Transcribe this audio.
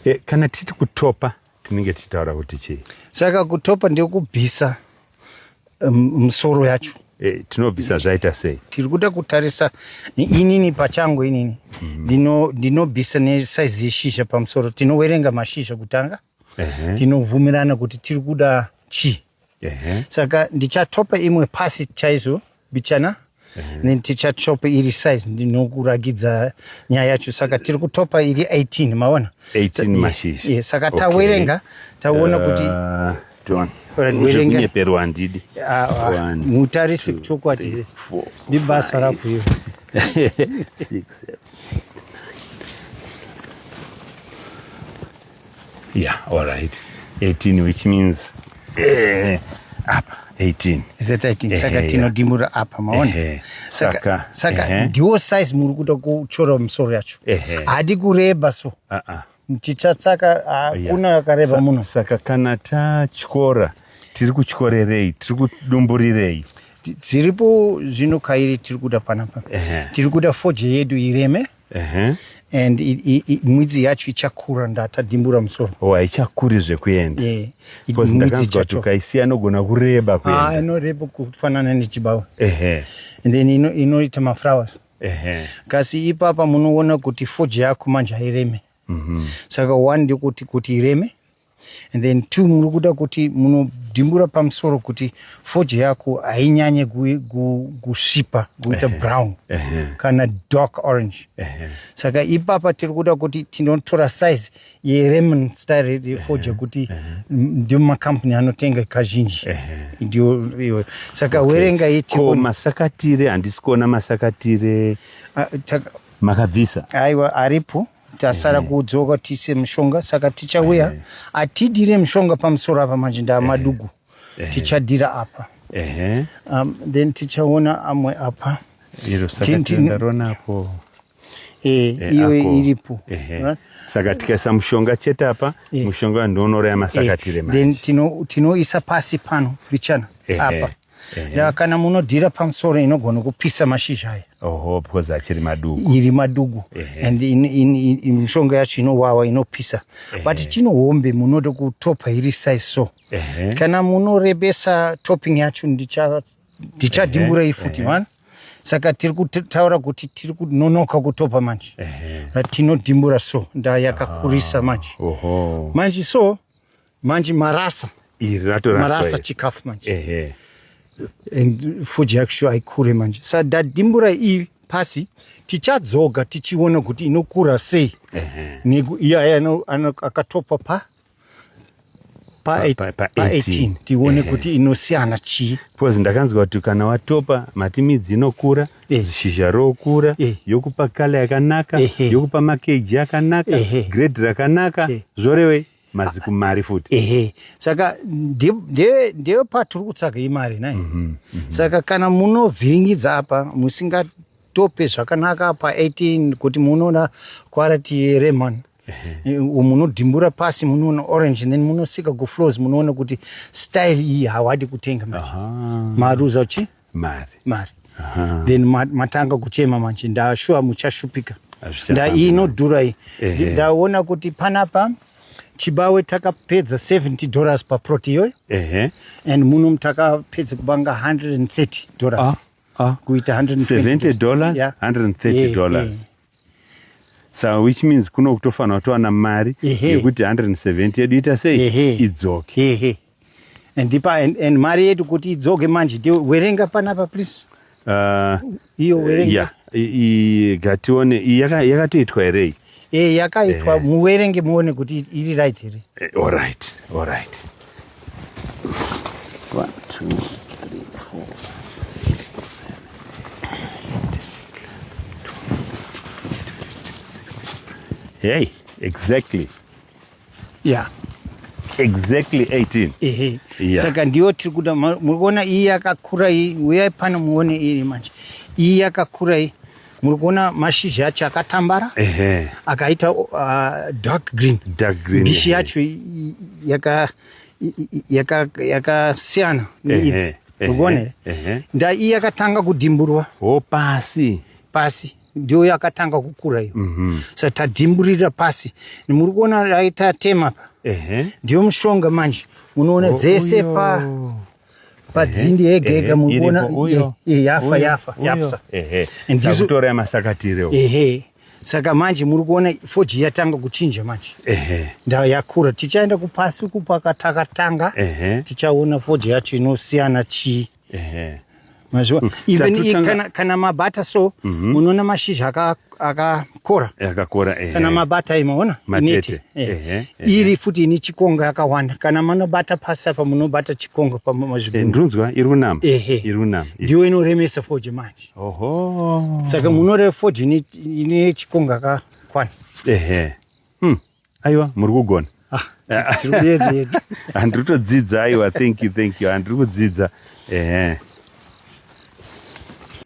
E, kana titi kutopa tinenge tichitaura kuti chii? Saka kutopa ndekubvisa musoro um, yacho e, tinobvisa zvaita sei? Tiri kuda kutarisa inini pachangu inini mhm. ndinobvisa mm -hmm. nesaizi yeshizha pamusoro tinowerenga mashizha kutanga uh -huh. tinobvumirana kuti tiri kuda chii Ehe. saka ndichatopa imwe pasi chaizo bichana then tichatopa iri size ndinokuragidza nyaya yacho saka tiri kutopa iri 18 maona 18 Sa- yeah, mashizha. yeah, saka Okay. tawerenga taona kuti Ah, John. Alright, Izvo werenga. kunyeperwa handidi. ah, ah, One, mutarisi two, chokwadi three, four, ndibasa five, rako iro six, seven. Yeah, all right. 18 which means eh, apa 18 zeta 18 eh, saka tinodimura apa maona eh, saka saka eh, ndiwo size muri kuda kuchora musoro yacho hadi kureba so uh -uh. tichatsaka hakuna yeah. akareba munhu saka kana tatyora tiri kutyorerei tiri kudumburirei tiripo zvino kairi tiri kuda panapa tiri kuda foje yedu ireme Uh-huh. and mwidzi yacho ichakura ndatadimbura musoro oh, haichakuri zvekuenda yeah. kuti ukaisiya inogona kureba kuenda ah, inoreba kufanana nechibawa uh-huh. and then ino, inoita maflowers uh-huh. kasi ipapa munoona kuti foji yako manje haireme mm-hmm. saka one ndekuti kuti ireme and then two muri kuda kuti munodimbura pamusoro kuti foje yako hainyanye kusvipa kuita brown kana dark orange saka ipapa tiri kuda kuti tinotora size yeremon style refoje kuti ndio macompany anotenga kazhinji ndio iwe saka werenga iti masakatire handisi kuona masakatire ah, makabvisa aiwa aripo tasara mhm. kudzoka tiise mushonga saka tichauya mhm. atidire mushonga pamusoro apa manje ndaamadugu mhm. tichadira apa um, then tichaona amwe apa irosakandaronapo eh, eh, iyo iripo saka tikaisa mushonga chete apa eh. mushonga ndoonoraya masakatire manje then tinoisa pasi pano vichana apa ya kana munodhira pamusoro inogona kupisa mashizha aya oho because achiri madugu iri madugu and mishonga yacho inowawa inopisa but chino hombe munoda kutopa iri size so kana munorebesa topping yacho ndichadimburai futi mani saka tiri kutaura kuti tiri kunonoka kutopa manje tinodimbura so ndayakakurisa manje manje so manje marasa iri ratoraswa marasa chikafu manje ehe and fuji yacho haikure manje sa dadimbura iyi pasi tichadzoga tichiona kuti inokura sei iye akatopa pa pa 18 tione kuti inosiyana chii bcause ndakanzwa kuti kana watopa mati midzi inokura eh. zishizha rokura eh. yokupa kala yakanaka yokupa makeji yakanaka grade rakanaka zvorevei maziku mari futi ehe saka ndeyo patiri kutsvaga imari nai mm -hmm, mm -hmm. saka kana munovhiringidza apa musingatope zvakanaka pa 18 kuti munoona kwarati yeremon munodhimbura pasi munoona orange then munosika kuflows munoona kuti style iyi hawadi kutenga mari maruza uchi mari mari then matanga kuchema manje ndashuwa muchashupika ndaiyi inodhura iyi ndaona kuti panapa chibawe takapedza 70 dollars paprot iyoyo and muno takapedza kubanga 130 dollars ah, ah. kuita 170 dollars 130 dollars so which means kuno kutofanira kutowana mari yekuti 170 yedu ita sei idzoke and, ipa, and, and mari yedu kuti idzoke manje werenga panapa please uh, iyo werenga yeah, gatione yakatoitwa yaka here iyi yakaitwa eh. muwerenge muone kuti iri right here eh, all right all right One, two, three, four. Hey, exactly. Yeah. Exactly 18. Ehe. Yeah. Saka ndiyo tiri kuda muri kuona iyi yakakura iyi uyai pano muone iri manje. Iyi yakakura iyi muri kuona mashizha acho akatambara akaita uh, dark green mbishi yacho yakasiyana neidzi mukuonere nda iyi yakatanga kudimburwa ho pasi pasi ndiyo yakatanga kukura iyo mhm. sa tadimburira pasi muri kuona aitatema pa ndiyo mushonga manje munoona oh, dzese pa padzindi yega yega mukuona yafa yafa yapsa ndizvotora yamasakatire ehe saka manje muri kuona foji yatanga kuchinja manje nda yakura tichaenda kupasi uku pakatakatanga tichaona foji yacho inosiyana chii Mazviwa. Hmm. Even Tatutanga... kana, kana mabata so mm -hmm. unoona mashizha akakora aka akakora ehe. Kana mabata imo ona matete ehe. Ehe. Ehe. Iri futi ini chikonga yakawanda kana manobata pasi apa munobata chikonga pamazvigundu. Eh, ndunzwa iri kunama. Ehe. Iri kunama. Ndiyo inoremesa foji manje. Oho. Saka munore foji ine, ine chikonga kakwana. Ehe. Hmm. Aiwa, muri kugona. Ah, tiri kuyedza yedu. Handiri kutodzidza aiwa, thank you, thank you. Handiri kudzidza. Ehe.